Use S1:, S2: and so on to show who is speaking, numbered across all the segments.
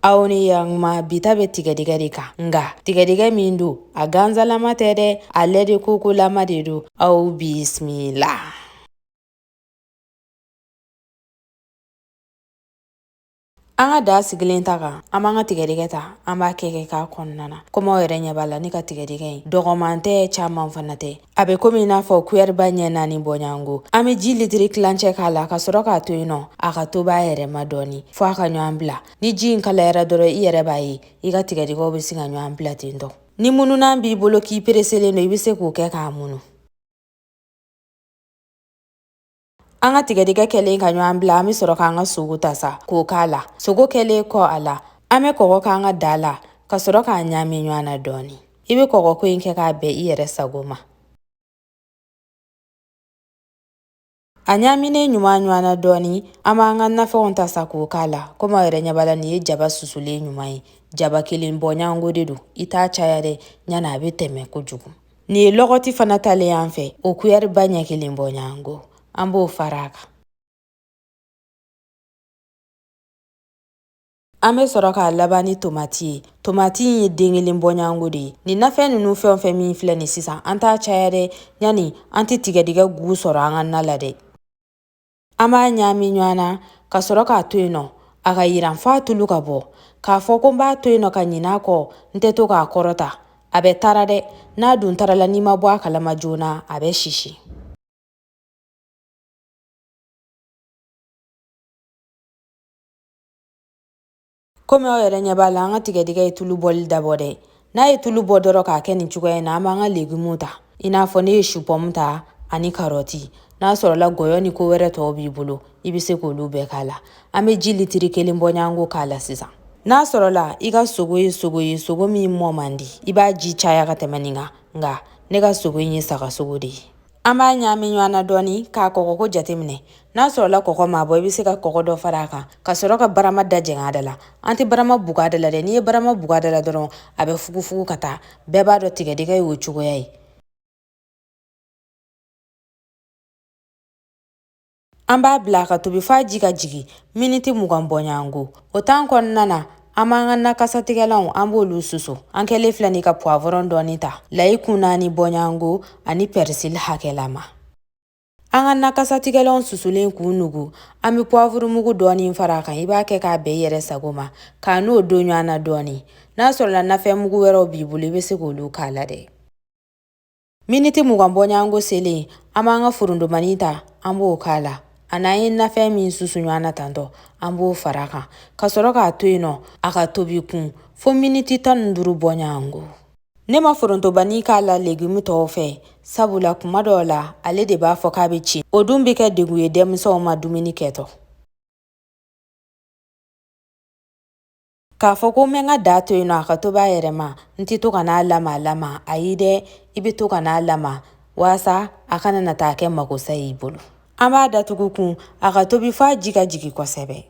S1: aw ni yanma bi ta bɛ tigɛdɛgɛ de kan nka tigɛdɛgɛ min don a ganzalama tɛ dɛ ale de kokolama de don aw bisimila an ka da sigilen ta kan an b'an ka tigɛdɛgɛ ta an b'a kɛ kɛ k'a kɔnɔna na komi aw yɛrɛ ɲɛ b'a la ne ka tigɛdɛgɛ in dɔgɔman tɛ caman fana tɛ a bɛ komi i n'a fɔ kuyɛriba ɲɛ naani bɔɲɔgɔnko an bɛ ji litiri tilancɛ k'a la ka sɔrɔ k'a to yen nɔ a ka tobi a yɛrɛ ma dɔɔni fo a ka ɲɔgɔn bila ni ji in kalayara dɔrɔn i yɛrɛ b'a ye i ka tigɛdɛgɛw bɛ se ka ɲɔgɔn bila ten tɔ ni mununan b'i bolo k'i pereselen don i bɛ se k'o kɛ k'a munu An ka tigɛdɛgɛ kɛlen ka ɲɔgɔn bila an bɛ sɔrɔ k'an ka sogo ta sa k'o k'a la sogo kɛlen kɔ a la an bɛ kɔgɔ k'an ka da la ka sɔrɔ k'a ɲaami ɲɔgɔn na dɔɔni i bɛ kɔgɔko in kɛ k'a bɛn i yɛrɛ sago ma a ɲaaminen ɲuman ɲɔgɔn na dɔɔni an b'an ka nafɛnw ta sa k'o k'a la komi aw yɛrɛ ɲɛ b'a la nin ye jaba susulen ɲuman ye jaba kelen bɔɲango de don i t'a caya dɛ ɲani a bɛ tɛmɛ kojugu Nin ye lɔgɔti fana talen y'an fɛ o kuyɛriba ɲɛ kelen bɔɲango an b'o fara a kan an bɛ sɔrɔ k'a laban ni tomati ye tomati in ye den kelen bɔɲango de ye nin nafɛn ninnu fɛn o fɛn min filɛ nin sisan an t'a caya dɛ ɲani an tɛ tigɛdɛgɛ gu sɔrɔ an ka na la dɛ an b'a ɲaami ɲɔgɔn na ka sɔrɔ k'a to yen nɔ a ka yiran f'a tulu ka bɔ k'a fɔ ko n b'a to yen nɔ ka ɲin'a kɔ n tɛ to k'a kɔrɔta a bɛ tara dɛ n'a dun tarala n'i ma bɔ a kalama joona a bɛ sisi komi aw yɛrɛ ɲɛ b'a la an ka tigɛdɛgɛ ye tulu bɔli dabɔ dɛ n'a ye tulu bɔ dɔrɔn k'a kɛ nin cogoya in na an b'an ka legumu ta i n'a fɔ ne ye supɔmu ta ani karɔti n'a sɔrɔla gɔyɔ ni ko wɛrɛ tɔw b'i bolo i bɛ se k'olu bɛɛ k'a la an bɛ ji litiri kelen bɔɲango k'a la sisan n'a sɔrɔla i ka sogo ye sogo ye sogo min mɔ man di i b'a ji caya ka tɛmɛ nin kan nka ne ka sogo in ye sagasogo de ye An b'a ɲaami ɲɔgɔn na dɔɔni k'a kɔgɔko jateminɛ n'a sɔrɔla kɔgɔ m'a bɔ i bɛ se ka kɔgɔ dɔ fara a kan ka sɔrɔ ka barama da jɛngɛ a da la an tɛ barama bugu a da la dɛ n'i ye barama bugu a da la dɔrɔn a bɛ fugufugu ka taa bɛɛ b'a dɔn tigɛdɛgɛ y'o cogoya ye an b'a bila ka tobi f'a ji ka jigin miniti mugan bɔɲɔgɔnko o tan kɔnɔna na an b'an ka nakasatigɛlanw an b'olu susu an kɛlen filɛ nin ka puwavɔrɔn dɔɔni ta layi kun naani bɔɲɔgɔnko ani pɛrisili hakɛlama an ka nakasatigɛlanw susulen k'u nugu an bɛ puwavurumugu dɔɔni fara a kan i b'a kɛ k'a bɛn i yɛrɛ sago ma k'a n'o don ɲɔgɔn na dɔɔni n'a sɔrɔla nafɛnmugu wɛrɛw b'i bolo i bɛ se k'olu k'a la dɛ Miniti mugan bɔɲɔgɔnko selen an b'an ka forontobani ta an b'o k'a la a n'an ye nafɛn min susu ɲɔgɔn na tantôt an b'o fara a kan ka sɔrɔ k'a to yen nɔ a ka tobi kun fo miniti tan ni duuru bɔɲɔgɔnko ne ma forontobani k'a la legimu tɔw fɛ sabula kuma dɔw la ale de b'a fɔ k'a bɛ ci o dun bɛ kɛ degun ye denmisɛnw ma dumuni kɛtɔ k'a fɔ ko n bɛ n ka da to yen nɔ a ka tobi a yɛrɛ ma n tɛ to ka n'a lama lama ayi dɛ i bɛ to ka n'a lama walasa a kana na taa kɛ makosa y'i bolo an b'a datugu kun a ka tobi f'a ji ka jigin kosɛbɛ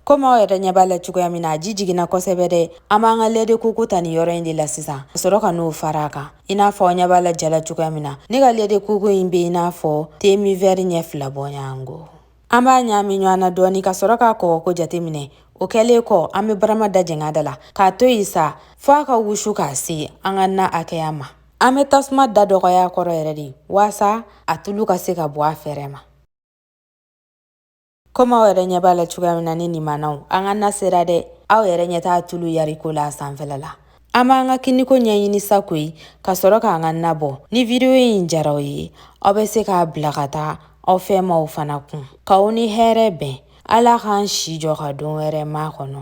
S1: komi aw yɛrɛ ɲɛ b'a la cogoya min na a ji jiginna kosɛbɛ dɛ an b'an ka lait de coco ta nin yɔrɔ in de la sisan ka sɔrɔ ka n'o fara a kan i n'a fɔ aw ɲɛ b'a la ja la cogoya min na ne ka lait de coco in bɛ i n'a fɔ demi verre ɲɛ fila bɔɲango an b'a ɲaami ɲɔgɔn na dɔɔni ka sɔrɔ k'a kɔgɔko jateminɛ o kɛlen kɔ an bɛ barama da jɛngɛ a da la k'a to yen sa fo a ka wusu k'a se an ka na hakɛya ma an bɛ tasuma da dɔgɔya a kɔrɔ yɛrɛ de waasa a tulu ka se ka bɔ a fɛrɛ ma komi aw yɛrɛ ɲɛ b'a la cogoya min na ne nimanaw an ka na sera dɛ aw yɛrɛ ɲɛ t'a tulu yariko la a sanfɛla la An b'an ka kiniko ɲɛɲini sa koyi ka sɔrɔ k'an ka na bɔ ni video in jara aw ye aw bɛ se k'a bila ka taa aw fɛmaaw fana kun k'aw ni hɛrɛ bɛn ala k'an si jɔ ka don wɛrɛ makɔnɔ